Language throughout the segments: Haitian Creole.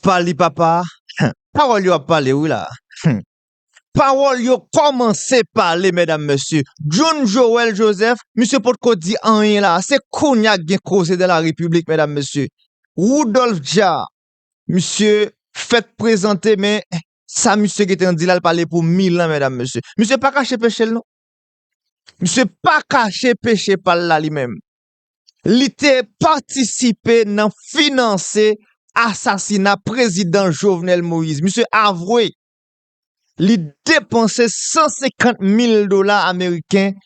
Pale papa Humm pawòl yo ap pale wi la Humm pawòl yo kòmanse pale medam mesye John Joel Joseph misye potko di anyen la se kounya k gen koze dans la repiblik medam mesye Rudolph Dja misye fèk prezante men sa misye gentan di la l pale pou mil an medam mesye misye pa kache peche l non misye pa kache peche pa l la li menm li te patisipe nan finanse asasina prezidan Jovenel Moïse. Misye avwe li depanse 150 mil dola ameriken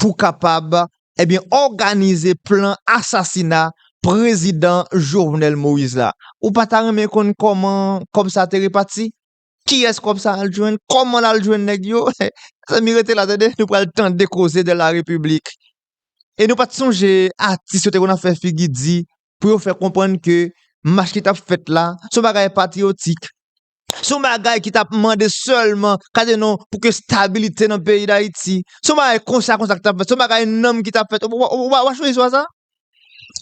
pou kapab ebyen eh òganize plan asasina prezidan Jovenel Moïse la. Ou pa ta renmen konn kòman kòb sa te repati? Kiyès kòb sa al jwenn? Kòman lal jwenn nèg yo? Mezanmi rete la tande, nou pral tande koze de la repiblik. E nou pat sonje atis yo te konn ap fè figi di pou yo fè konprann ke mach ki tap fèt la son bagay patriyotik. Son bagay ki tap mande sèlman kade non pou ke stabilite nan peyi dayiti. Son bagay konsa konsa ki tap fèt, son bagay nanm ki tap fèt. Ou pa sonje istwa sa?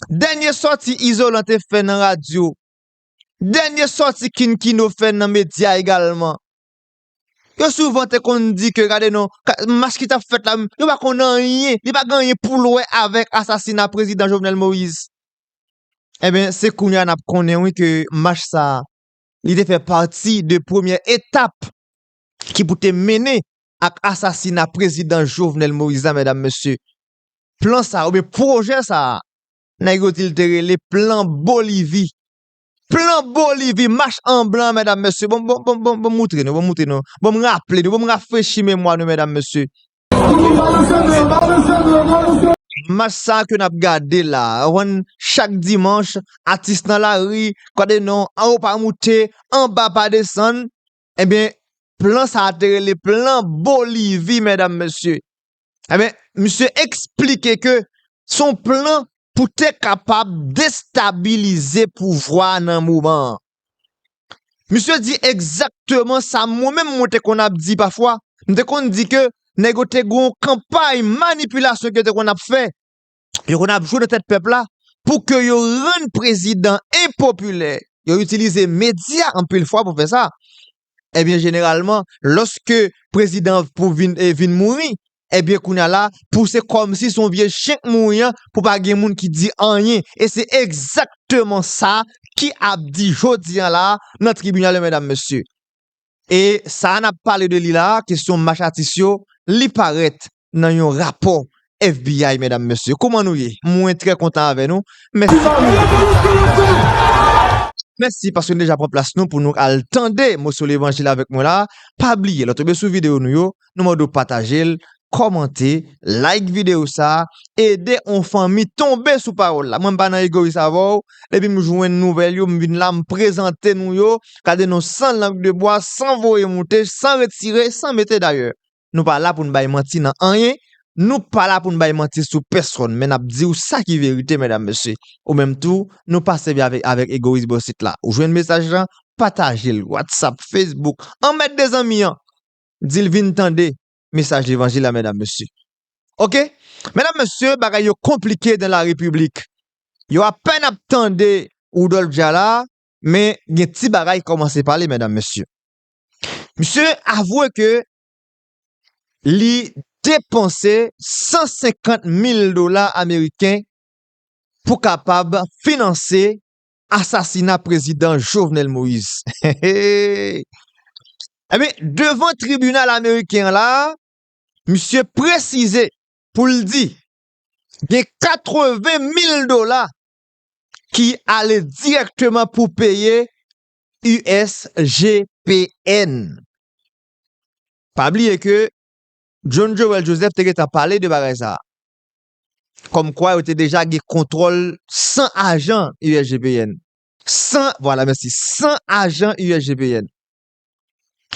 Dènye sòti Izolan te fè nan radyo Dènye sòti King Kino fè nan medya egalman. Yo souvan te konn di ke gade non, mach ki tap fèt la, yo pa konn anyen, li pa gen anyen poul wè avèk asasina prezidan Jovenel Moïse. Enben, se kounye a nap konnen wi ke mach sa, li te fè pati de premyè etap ki pou te mennen ak asasina prezidan Jovenel Moïse la mèdam mesye. Plan sa oubyen pwojè sa, Nèg yo di li te rele plan bolivi. Plan bolivi, mach an blan mèdam mèsye, bon bon bon bon bon moutre nou, bon moutre nou, bon m raple nou, bon m rafrechi memwa nou mèdam mèsye. Mach sa ke n ap gade la, ou konn chak dimanch atis nan lari, gade non, anwo pa moute, anba pa desann, enben plan sa te rele plan bolivi mèdam mèsye. Eben, misye eksplike ke son plan pou te kapab destabilize pouvwa nan moman an. Misye di egzakteman sa mwen menm mwen te konn ap di pafwa, m te konn di ke nèg yo te gon kanpay manipilasyon ke yo te konn ap fè yo konn ap jwe nan tèt pèp la pou ke yo rann prezidan enpopilè. Yo itilize medya anpil fwa pou fè sa. Ebyen eh jeneralman, loske prezidan pou vin eh, vin mouri, Ebyen eh kounya la, pou se kòm si son vye chen k mouri an, pou pa gen moun ki di anyen. E se egzakteman sa ki ap di jodi an la nan tribinal yo medam mesye. E sa a n ap pale de li la a, kesyon mach atis yo, li parèt nan yon rapò FBI medam mesye. Kouman nou ye? Mwen trè kontan avè nou. Mèsi pou nou deja pran plas nou. Mèsi paske nou deja pran plas nou pou nou al tande moso levanjil avèk mwen la a. Pa bliye lò tonbe sou videyo nou yo. Nou mande w pataje l, kòmante, like videyo sa, ede on fanmi tonbe sou pawòl la. Mwen pa nan egoyis avè w, depi m jwenn nouvèl yo m vin la m prezante nou yo, gade nou san lang de bwa, san voye moute, san retire, san mete dayè. Nou pa la pou n bay manti nan anyen, nou pa la pou n bay manti sou pèsòn men n ap di w sa ki verite medam mesye. Ou menm tou, nou pa sèvi avèk avèk egoyis bò sit la. Ou jwenn mesaj lan, pataje l, whatsapp, facebook, anmède zanmi an. Dil vin tande mesaj levanjil la medam mesye ok medam mesye bagay yo konplike dan la repiblik yo apèn ap tande Woudòlf Dja la men gen ti bagay kòmanse pale medam mesye misye avwe ke li depanse 150 mil dola ameriken pou kapab finanse Asasina prezidan Jovenel Moïse Enben, devan tribinal ameriken an la a, misye presize pou l di gen 80 mil dola ki ale dirèkteman pou peye USGPN. Pa bliye ke John Joel Joseph te gentan pale de bagay sa a. kòm kwa yo te deja gen kontwòl 100 ajan USGPN. 100, vwala mèsi, 100 ajan USGPN.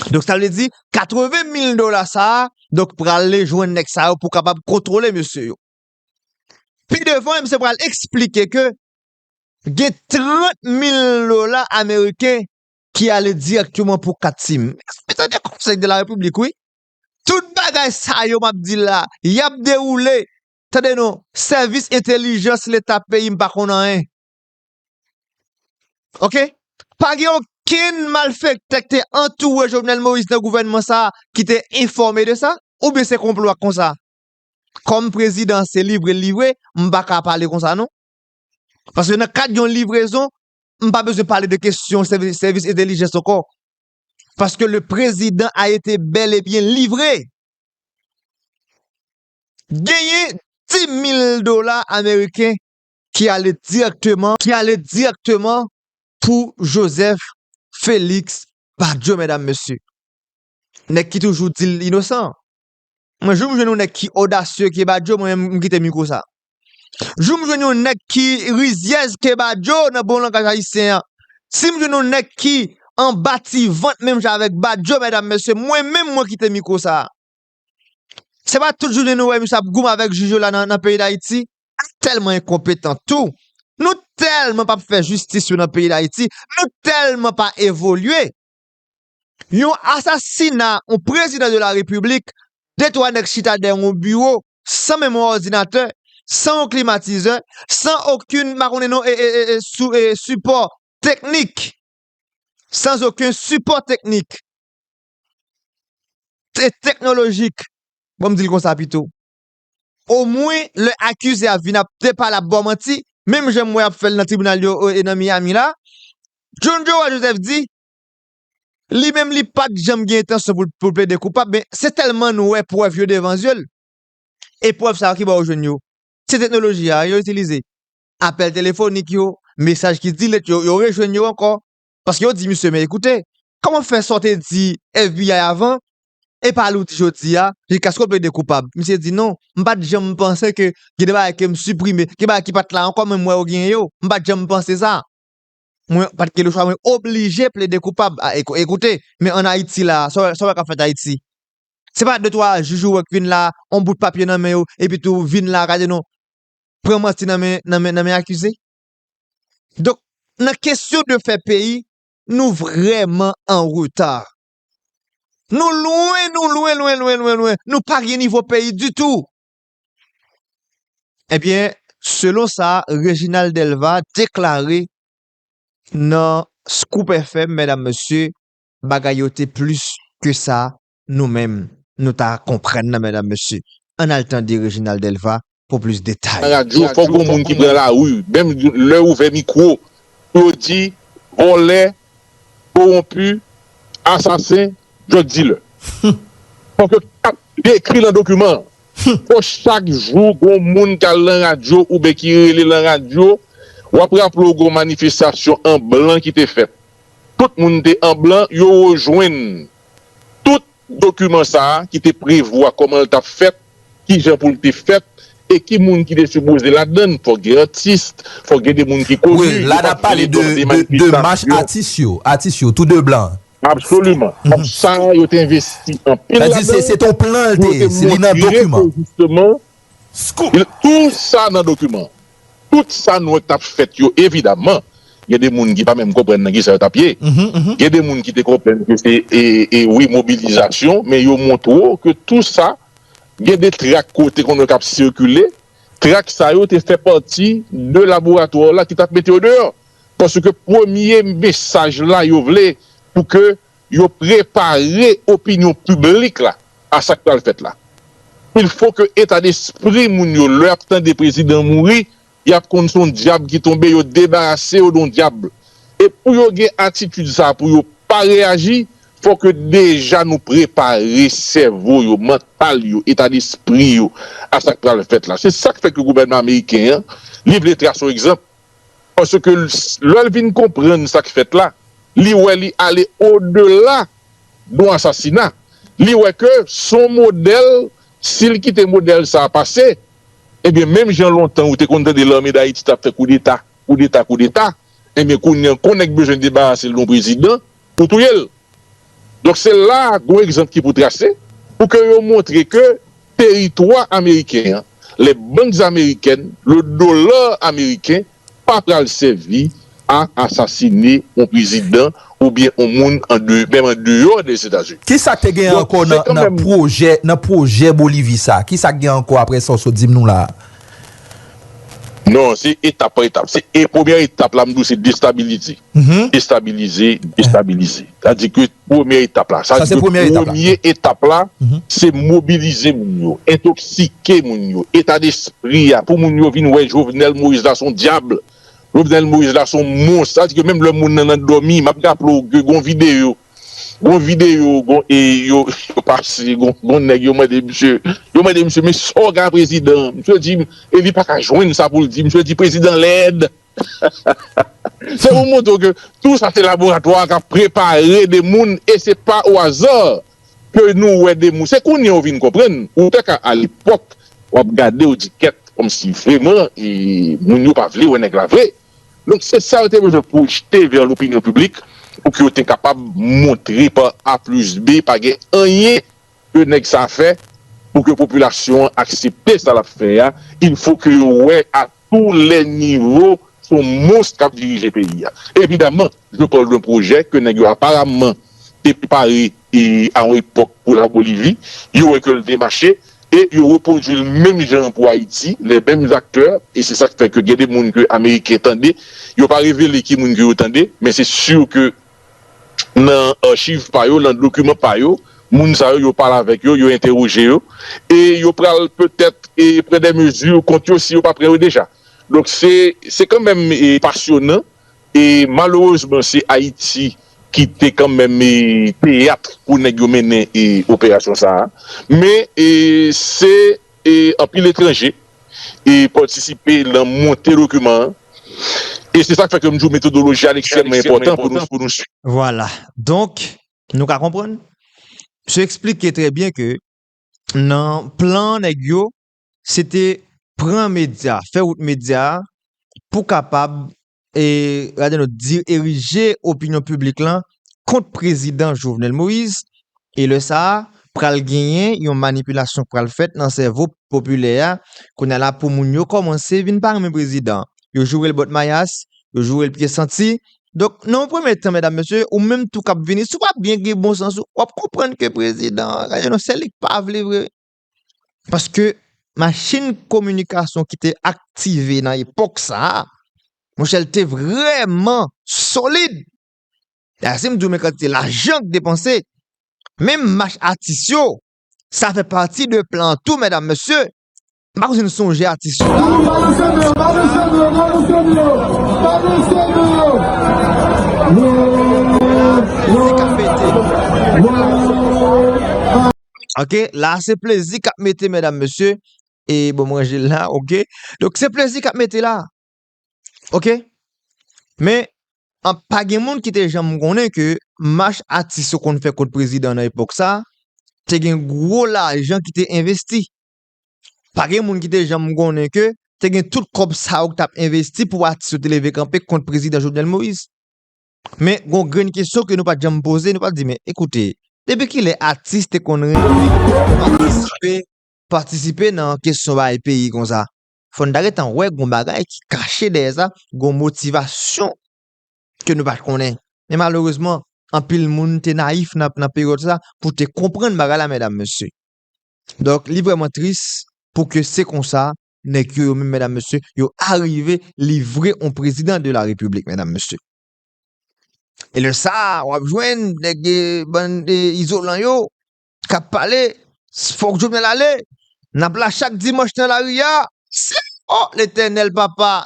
Donk sa vle di 80 mil dola sa a, donk prale jwenn nèg sa yo pou kapab kontwole mesye yo. Pi devan misye pral eksplike ke gen 30 mil dola ameriken ki ale dirèkteman pou 4 Team. Mwen tande konsèy de la repiblik wi. Tout bagay sa yo m ap di la, y ap dewoule. Tande non, sèvis entelijans leta peyi m pa konn anyen. Ok? Pa gen okenn malfèktè k te antoure Jovenel Moïse nan gouvènman sa a ki te enfòme de sa? Oubyen se konplo ak konsa? Kòm prezidan se livre l livre, m pa ka pale konsa non. Paske nan kad yon livrezon, m pa bezwen pale de kesyon sèvis entelijans ankò. Paske le prezidan a ete bel e byen livre. Genyen 10.000 dola ameriken ki ale direkteman pou Joseph Felix Badio, medam mesye. Nèg ki toujou di l inosan. Mwen joum jwenn yon nèg ki odasye ke badjo mwen menm mkite miko sa. Joum jwenn yon nèg ki rizyèz ke badjo nan bon langaj ayisyen an. Sim jwenn yon nèg ki anba ti vant menm jan avèk badjo mèdam mesye mwen menm mwen kite miko sa. Se pa tout jounen nou wè misye ap goumen avèk jij yo la nan peyi dayiti. Nou tèlman enkonpetan tou, nou tèlman pap fè jistis yo nan peyi dayiti, nou tèlman pa evolye. Yon asasina yon prezidan de la repiblik, 2 3 nèg chita dèyè yon biwo san menm yon òdinatè, san yon klimatizè, san okenn pa konnen non sipò teknik, san okenn sipò teknik e teknolojik bon m di l konsa pito. Omwen lè akize a vin ap depale ap ba w manti, menm jan m wè y ap fè l nan tribinal yo nan Miyami la, John Joe Joseph di Li menm li pat janm gen entansyon pou l plede koupab men se tèlman n wè prèv yo devan zye l. E prèv sa yo ki bò yo jwenn yo? Se teknoloji a yo itilize. Apèl telefonik yo, mesaj ki dilet yo, yo rejwenn yo ankò. Paske yo di misye men ekoute, kòman w fè sa w te di FBI avan e pale w di jodi a jiskaske w plede koupab? Misye di non, m pat janm panse ke gen de bagay ke m siprime, gen bagay ki pat la ankò men m wè yo gen yo. M pat janm panse sa. Mwen pat gen lechwa mwen oblije plede koupab a eko e koute men an ayiti la sa w wè kap fèt ayiti se pa de twa jij ou wè k vin la on bout papye nan men yo epi tou vin la gade non pran manti nan men nan men nan men akize donk nan kesyon de fè peyi nou vrèman an reta nou lwen nou lwen lwen lwen lwen lwen nou pa gen nivo peyi ditou. Ebyen, selon sa Reginald Delva deklare nan Scoop FM, medam mesye, bagay yo te plis ke sa nou menm nou ta konprann nan medam mesye. Ann al tande Reginald Delva pou plis detay. Nan radyo fòk gon moun ki pran lari menm lè yo ouvè mikwo pou yo di vòlè, kowonpi, asasen, drug dealer. Fòk yo kapab dekri nan dokiman Fò chak jou gon moun kal lan radyo ouben ki rele lan radyo wap raple w gon manifestasyon an blan ki te fèt. Tout moun te an blan yo rejwenn tout dokiman sa ki te prevwa kòman l tap fèt, kijan pou l te fèt e ki moun ki te sipoze ladann. Fòk gen atis, fòk gen de moun ki koni. Wi, la nap pale de de mach atis yo, atis yo tou de blan. Absoliman. Kòb sa a, yo te envesti anpil ladan l. Sa di se te yon plan l te ye. Li nan dokiman. Scoop! Tou sa nan dokiman. Tout sa nou wè k t ap fèt yo, evidaman, gen de moun ki pa menm konprann nan kisa yo t ap ye. Gen de moun ki te konprann ke se, wi, mobilizasyon, men yo montre w ke tou sa, gen de trak ke w te konn wè k ap sikile, trak sa yo te fè pati de laboratwa w la ki t ap mete yo deyò. Paske premye mesaj la yo vle pou ke yo prepare opinyon piblik la a sa k pral fèt la. Il fo ke eta despri moun yo lè y ap tande prezidan mouri y ap konn se yon dyab ki tonbe yo debarase yo de yon dyab. E pou yo gen atitid sa a pou yo pa reyaji fò ke deja nou prepare sèvo yo, mantal yo, eta despri yo a sa k pral fèt la. Se sa k fè ke gouvènman ameriken an li vle trase yon egzanp Paske lè l vin konprann sa k fèt la, li wè li ale odela don asasina. Li wè ke s on modèl, si l kite modèl sa a pase, ebyen menm jan lontan ou te konn tande lame dayiti t ap fè koudeta, koudeta, koudeta, ebyen kounye an kon nèk bezwen debarase l de yon prezidan, Pou touye l. Donk se la a gon egzanp ki pou trase pou ke yo montre ke teritwa ameriken an, le banks amerikèn, le dollar ameriken pa pral sèvi a asasine on prezidan ou byen on moun an de, menm an deyò des Etazini. Ki sa k te gen ankò nan pwojè, nan pwojè Bolivi sa a? Ki sa k gen ankò aprè sa w sot di m nou la a? Non se etap pa etap se e premyè etap la m di w se destabilize estabilize destabilize sa di ke premyè etap la sa di ke premye etap la se mobilize moun yo entoksike moun yo eta despri a pou moun yo vin wè Jovenel Moïse la son dyab Jovenel Moïse la son mons sa di ke menm lè moun nan nan dòmi m ap raple w ke gon videyo Gon video gon e yo pase gon nèg yo mande misye yo mande misye men saw gen a prezidan misye di e li paka jwenn sa poul di misye di prezidan lèd se pou montre w ke tou sa se laboratwa a kap prepare de moun e se pa o aza ke nou wè de moun se kounye a ou vin konprann ou te ka alepòk wap gade ou di kèt kòmsi vreman moun yo pa vle wè nèg la vre. Donk se sa yo te bezwen pwojte vè lopinyon piblik pou ke yo te kapab montre pa A plis B pa gen anyen ke nèg sa fè pou ke popilasyon an aksepte sa l ap fè a, il fo ke yo wè a tou lè nivo s on mons k ap dirije peyi a. Evidaman, je parle d'un projet ke nèg yo aparamman te prepare a yon epòk pou la Bolivi, yo wè ke l te mache, e yo repwodui l menm jan an pou Ayiti, les memes acteurs, e se sa k fè ke gen de moun ke Ameriken tande, yo pa revele ki moun ke yo tande, men se sur ke nan archiv pa yo, nan dokiman pa yo, moun sa yo, yo pale avèk yo, yo entewoje yo, e yo pral petèt pran de mezi kont yo si yo pa pran yo deja. Donk se kanmenm pasyonan E malerezman se Ayiti ki te kanmenm e teyat pou nèg yo mennen e operasyon sa a. Men e se e anpil etranje e patisipe lan monte dokiman an. E se sa k fè ke m di w metodoloji a li ekstrèmman enpòtan pou nou swiv. Vwala. Donk, nou ka konprann, msye eksplike trè byen ke nan plan nèg yo, se te pran medya, fè wout medya a pou kapab e gade nou dirije opinyon piblik lan kont prezidan Jovenel Moïse e lè sa a pral genyen yon manipilasyon k pral fèt nan sèvo popilè a kounye a la pou moun yo kòmanse vin pa renmen prezidan yo joure l bòt mayas yo joure l pye santi donk nan yon premye tan medam mesye ou menm tou k ap vini si w pa byen gen bon sans ou w ap konprann ke prezidan an gade nou se li k pa vle vre. Paske machin kominikasyon ki te aktive nan epòk sa a, monchè l te vrèman solid. Dayè si m di w men kantite lajan k depanse, menm mach atis yo, sa fè pati de plan an tou medam mesye, m pa konn si n sonje atis yo la. Mwen la, mizik ap pete. Ok, la se plezi kap mete medam mesye E bon mwen jel la, ok Donk se plezi kap mete la Ok Men, an pa gen moun ki te janm konnen ke Mach atis yo konn fè kont prezidan nan epok sa Te gen gwo lajan ki te envesti Pa gen moun ki te janm konnen ke Te gen tout kob sa yo ki tap envesti pou atis yo te leve kanpe kont prezidan Jovenel Moïse Men gon grenn kesyon ke nou pat janm poze, nou pat di men ekoute, depi kilè atis te konn renmen patisipe nan kesyon bay peyi konsa? Fò n ta gentan wè gon bagay ki kache dèyè sa, gon motivasyon ke nou pat konnen. Men malerezman, anpil moun te nayif nan peryòd sa pou te konprann bagay la medam mesye. Donk li vrèman tris pou ke se konsa Nèg yo yo menm medam mesye yo arive livre on prezidan de la repiblik medam mesye. E lè sa wap jwenn nèg e bann e izolan yo kap pale fòk Jovenel ale nap la chak dimanch nan lari a se o letènèl papa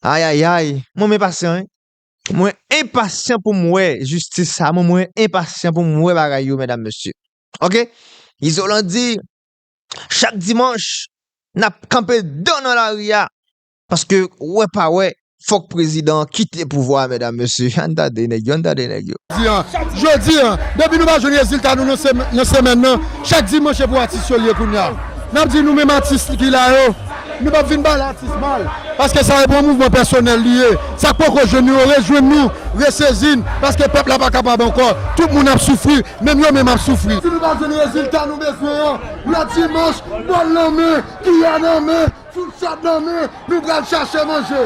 ayayay mwen men pasyan wi mwen enpasyan pou m wè jistis sa mwen mwen enpasyan pou m wè bagay yo medam mesye ok izolan di Chak dimanch nap kanpe dan nan lari a paske wè pa wè fòk prezidan an kite pouvwa a medam mesye ann tande nèg yo ann tande nèg yo. Jodi an depi nou pa jwenn rezilta nou nan semèn nan chak dimanch se pou atis yo l ye kounya nap di nou menm atis ki la yo nou pap vin pale atis mal paske sa e pou yon mouvman pèsonèl li ye sak poko jwenn nou yo rejwenn nou resezi n paske pèp la pa kapab ankò tout moun ap soufri Menm yo menm ap soufri. Si nou pa jwenn rezilta nou bezwen an lè dimanch, bòl nan men, kiyè nan men, fourchèt nan men, nou pral chache manje.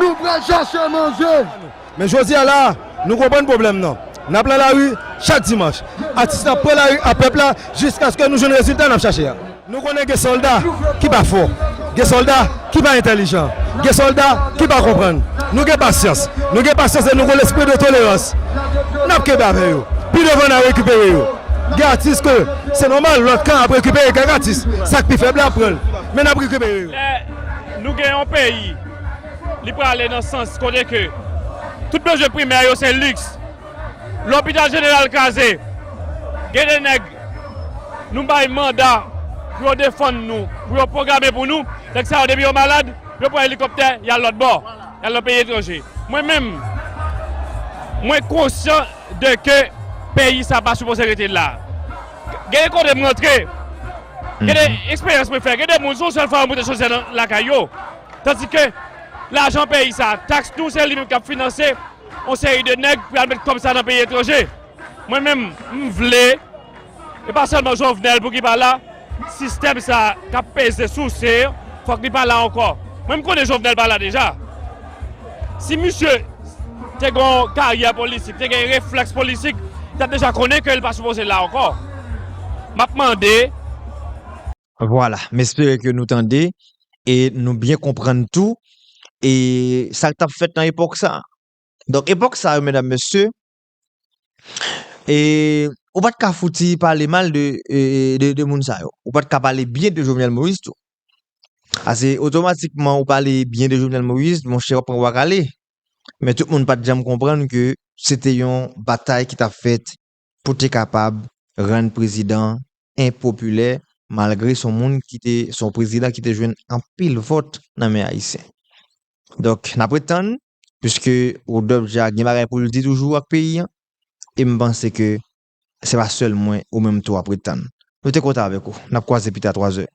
Nou pral chache manje. Men jodi a la a, nou konprann pwoblèm nan. N ap lan lari chak dimanch. Atis la pran lari ak pèp la jiskaske nou jwenn rezilta n ap chache a. Nou konnen gen sòlda ki pa fò, gen sòlda ki pa entèlijan, gen sòlda ki pa konprann. Nou gen pasyans, nou gen pasyans e nou gen lespri de tolerans. N ap kenbe avè yo. Pi devan n a rekipere yo. Gen atis ke se nòmal lòt kan ap rekipere kèk atis. Sa k pi fèb la ap pran l. Men n ap rekipere yo. Lè nou gen yon peyi li prale nan sans kote ke tout bezwen primè yo se liks. Lopital jeneral kraze, gen de nèg nou bay manda pou yo defann nou, pou yo pwograme pou nou, nèg sa yo depi yo malad, yo pran elikoptè y al lòtbò, y al nan peyi etranje. Mwen menm, mwen konsyan de ke peyi sa pa sipoze rete la. Gen de kote m rantre, gen de eksperyans mwen fè, gen de moun se yon sèl fwa yo moute chodyè lakay yo, tandike lajan peyi sa, taks nou se li menm k ap finanse. On seri de nèg pral met kòb sa nan peyi etranje. Mwen menm m vle, e pa sèlman Jovenel pou ki pa la, sistèm sa k ap peze souse fòk li pa la ankò. Mwen m konnen Jovenel pa la deja. Si misye te gen yon karyè politik, te gen reflèks politik, li t ap deja konnen ke li pa sipoze la ankò. M ap mande. Vwala, m espere ke nou tande e nou byen konprann tou e sa k t ap fèt nan epòk sa. Donk epòk sa yo medam mesye e ou pa t ka fouti pale mal de moun sa yo, ou pa t ka pale byen de Jovenel Moïse tou. Ase otomatikman ou pale byen de Jovenel Moïse monchè w ap pran bwa kale. Men tout moun pa t janm konprann ke se te yon batay ki t ap fèt pou te kapab rann prezidan an enpopilè malgre son moun ki te son prezidan ki te jwenn anpil vòt nan men ayisyen. Donk n ap ret tann puiske Rodolphe Jaar gen bagay pou l di toujou ak peyi an e m panse ke se pa sèl mwen ou menm tou w ap ret tann. Nou te kontan avèk ou. N ap kwaze pita twazè.